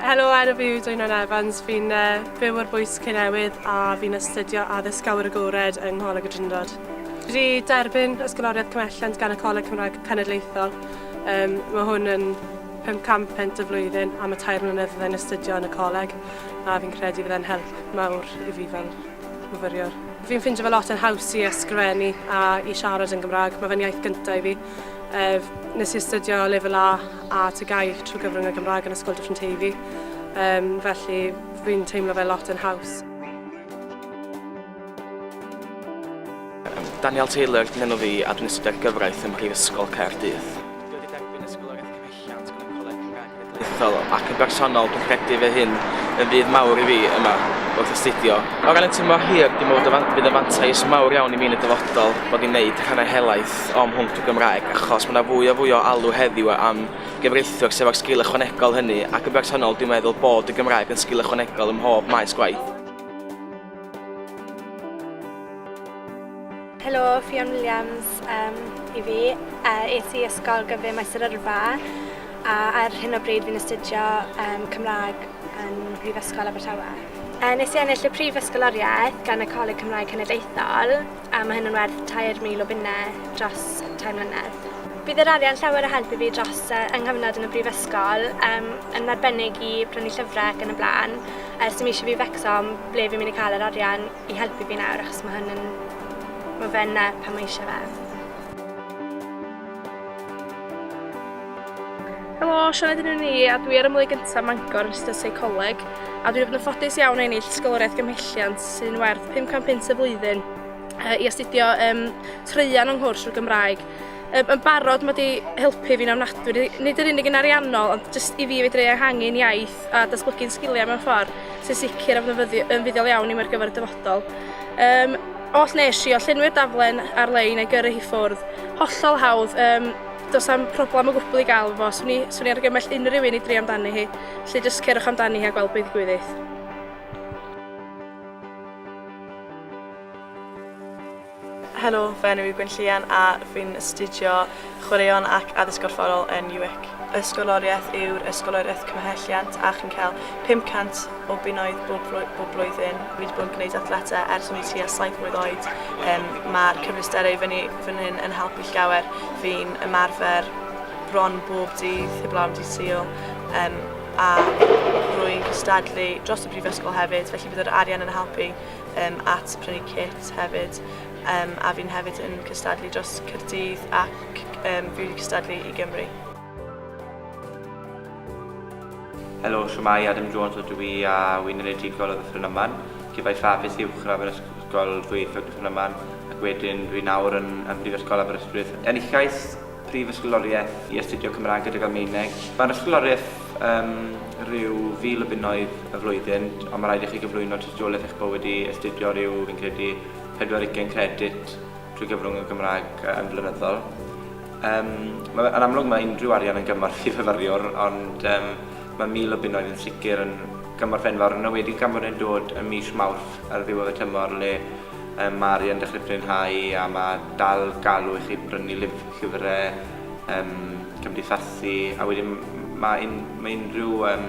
Helo, enw fi yw Dwynon Evans. Fi'n uh, byw ar bwys Cynewydd a fi'n astudio addysg awyr agored yng Ngholeg y Drindod. Fi wedi derbyn ysgoloriaeth cymhelliant gan y Coleg Cymraeg Cenedlaethol. Um, mae hwn yn 500 pent y flwyddyn a mae tair mlynedd fydda'n astudio yn y coleg a fi'n credu fydda'n help mawr i fi fel myfyriwr. Fi'n ffindio fe lot yn haws i ysgrifennu a i siarad yn Gymraeg. Mae fe'n iaith gyntaf i fi. Ef, nes i astudio lefel A a TGAU trwy gyfrwng y Gymraeg yn Ysgol Dyffryn Teifi. Um, felly, fi'n teimlo fe lot yn haws. Daniel Taylor, dyn enw fi, a dwi'n astudio gyfraith ym Mhrifysgol Caerdydd. Diwylliant yn y Coleg Cenedlaethol ac yn bersonol dwi'n credu fy hyn yn fydd mawr i fi yma wrth astudio. O ran y tymor hir, dwi'n meddwl y bydd y fantais mawr iawn i mi yn y dyfodol bod ni'n neud rhannau helaeth o'm mhwnc Gymraeg achos mae yna fwy a fwy o alw heddiw am gyfreithiwr sydd efo'r sgil ychwanegol hynny ac yn bersonol dwi'n meddwl bod y Gymraeg yn sgil ychwanegol ym mhob maes gwaith. Helo, Ffion Williams um, i fi. Uh, es i ysgol gyfer maes yr yrfa a ar hyn o bryd fi'n astudio um, Cymraeg yn Brifysgol Abertawe. Uh, nes i ennill y prif ysgoloriaeth gan y Coleg Cymraeg Cenedlaethol a mae hyn yn werth 3,000 o bunnau dros 3 mlynedd. Bydd yr arian llawer o help i fi dros uh, yng nghyfnod yn y brifysgol, um, yn arbennig i brynu llyfrau ac yn y blaen. Ers i mi eisiau fi fecso am ble fi'n mynd i cael yr arian i helpu fi nawr achos mae hyn yn... mae fe yna pan mae eisiau fe. Helo, Sioned yn un i a dwi ar ymwneud gyntaf Mangor yn ystod seicoleg a dwi'n fod yn ffodus iawn o ennill sgoloriaeth gymhelliant sy'n werth 500 punt y flwyddyn i astudio um, treian o'n nghwrs o'r Gymraeg Yn barod, mae wedi helpu fi'n ofnadwy, nid yr unig yn ariannol, ond jyst i fi fedru ehangu'n iaith a datblygu'n sgiliau mewn ffordd sy'n sicr a fydd yn fuddiol iawn i mi ar gyfer y dyfodol. Um, os nes i, o llenwi'r daflen ar-lein a'i gyrru hi ffwrdd, hollol hawdd, um, does am problem o gwbl i gael fo, swn i, swn i argymell unrhyw un i dri amdani hi, lle jyst cerwch amdani hi a gweld beth gwyddydd. Helo, fy enw yw Gwyn Llian a fi'n astudio Chwaraeon ac Addysg Gorfforol yn UWIC. Ysgoloriaeth yw'r Ysgoloriaeth Cymhelliant a chi'n cael 500 o bunnoedd bob, bob blwyddyn. Fi wedi bod yn gwneud athletau ers o'n i tua 7 mlwydd oed. Um, Mae'r cyfleusterau fyny fan hyn yn helpu llawer. Fi'n ymarfer bron bob dydd, heb lawn dydd sul. Um, a rwy'n cystadlu dros y brifysgol hefyd, felly bydd yr arian yn helpu um, at prynu kit hefyd um, a fi'n hefyd yn cystadlu dros Cyrdydd ac um, fi wedi cystadlu i Gymru. Helo, siwmai, Adam Jones o dwi i a wy'n enedigol o Ddyffryn Yman. Cefai ffafus uwchradd yn ysgol ddwyieithog Ddyffryn Yman ac wedyn dwi'n nawr yn, yn Brifysgol Aberystwyth. Enillais Prif Ysgoloriaeth i astudio Cymraeg gydag Almaeneg. Mae'r ysgoloriaeth um, rhyw fil o bunnoedd y flwyddyn, ond mae rhaid i chi gyflwyno tystiolaeth eich bod wedi astudio rhyw, fi'n credu, 40 credit drwy gyfrwng y Gymraeg yn flynyddol. Um, mae, yn amlwg mae unrhyw arian yn gymorth i fyfyriwr, ond um, mae mil o bunnoedd yn sicr yn gymorth enfawr, yn wedi gan bod yn dod yn mis Mawrth ar ddiwedd y tymor le Mae Mari yn dechrau fwynhau a mae dal galw i chi brynu llyfrau, yym, cymdeithasu, a wedyn mae mae unrhyw yym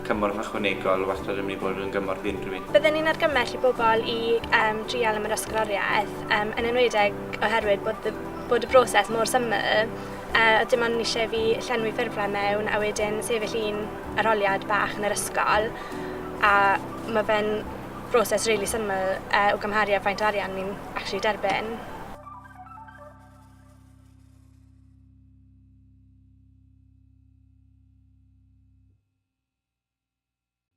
cymorth ychwanegol wastad yn mynd i fod yn gymorth i unrhyw un. Bydden ni'n argymell i bobl i yym drial am yr ysgoloriaeth, yym, yn enwedig oherwydd bod y bod y broses mor syml, yy, oedd dim ond eisiau i fi llenwi ffurflen mewn a wedyn sefyll un arholiad bach yn yr ysgol, a mae fe'n broses rili syml uh, o gymharu ar faint arian ni'n actually derbyn.